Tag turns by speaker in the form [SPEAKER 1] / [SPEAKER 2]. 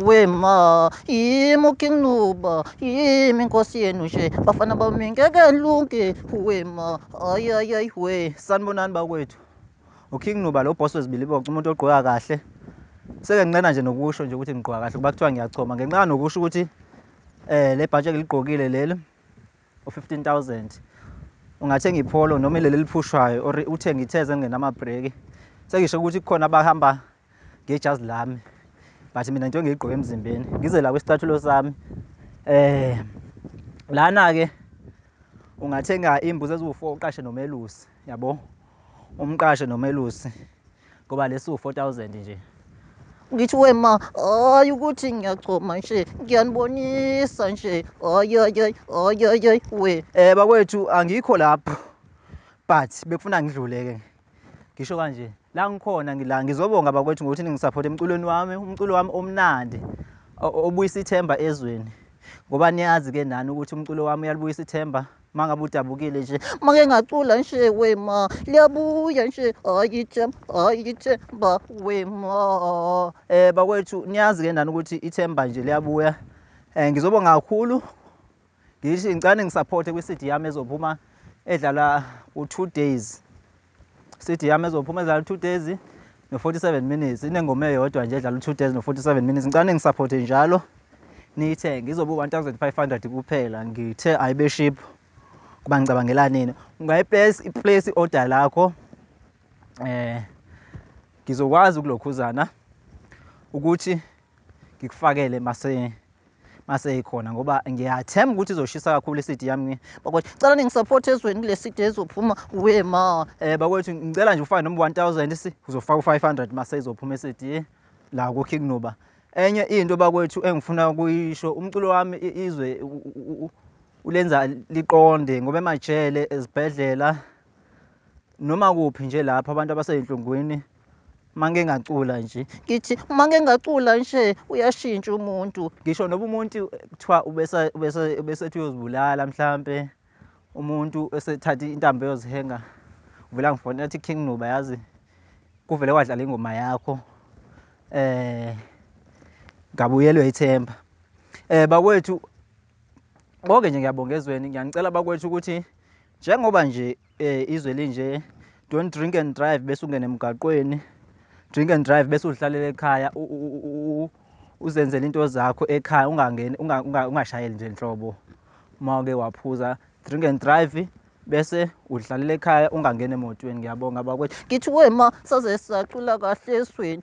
[SPEAKER 1] wema yimi ukinquba yimi inkosi yenu nje bafana bami ngeke lunke wema ayayayi we sanibonani bakwethu uking nuba lo boss wezibili bonke umuntu ogqoka kahle seke ngincena nje nokusho nje ukuthi ngigqoka kahle kuba kuthiwa ngiyachoma ngenxa nokusho ukuthi um le bhatshi engiligqokile leli u-15000 ungathenga ipholo noma ileli eliphushwayo or uthenge ithezi elingenamabhreki sengisho ukuthi kukhona abahamba ngejazi lami but mina njengoba ngiyigqoke emzimbeni ngize la kwisicathulo sami eh lana-ke ungathenga iy'mbuzi eziwu-four uqashe nomelusi yabo umqashe nomelusi ngoba lesi u-4000 nje ngithi wema hayi ukuthi ngiyachoma nje ngiyanibonisa nje hayiyoyoy hayiyoyoy we um bakwethu angikho lapho but bekufuna ngidlule-ke ngisho kanje la ngikhona ngila ngizobonga bakwethu ngokuthi ningisaphothe emculweni wami umculo wami omnandi obuyisa ithemba ezweni ngoba niyazi-ke nani ukuthi umculo wami uyalibuyisa ithemba uma ngabe udabukile nje make ngacula nje wema liyabuya nje ayithe ayithe ba wema eh bakwethu niyazi ke ndani ukuthi ithemba nje liyabuya eh ngizobonga kakhulu ngithi ngicane ngisupporte kwi-CD yami ezophuma edlala u-2 days City yami ezophuma edlala two days no-47 minutes inengoma eyodwa nje edlala u-two days no-47 minutes ngicane ningisaphothe njalo niyithenge izobe u-1500 kuphela ngithe ayibe ship kuba ngicabangela nini ungayiplace iplace i-order lakho eh ngizokwazi ukulokhuzana ukuthi ngikufakele mase mase ikhona ngoba ngiyathemba ukuthi izoshisa kakhulu isidi yami ngi bakwethu cela ningisupport ezweni kule sidi ezophuma we ma eh bakwethu ngicela nje ufake noma 1000 si uzofaka u500 mase izophuma isidi la ku Kingnuba enye into bakwethu engifuna ukuyisho umculo wami izwe ulenza liqonde ngoba emajele ezibhedlela noma kuphi nje lapho abantu abaseyinhlungwini mange ngacula nje ngithi mange ngacula nje uyashintsha umuntu ngisho noba umuntu kuthiwa ubesethi uyozibulala mhlampe umuntu esethatha intambo eyozihenga uvela ngifona ethi king nuba yazi kuvele kwadlala ingoma yakho eh ngabuyelwe ithemba eh bakwethu konke nje ngiyabonga ezweni ngiyanicela bakwethu ukuthi Njengoba nje eh, izwe linje don't drink and drive bese ungena emgaqweni drink and drive bese uzihlalela ekhaya uzenzela into zakho ekhaya ungangeni ungashayeli nje nhlobo uma uke waphuza drink and drive bese udlalela ekhaya ungangeni emotweni ngiyabonga bakwethu ngithi wema saze sacula kahle esweni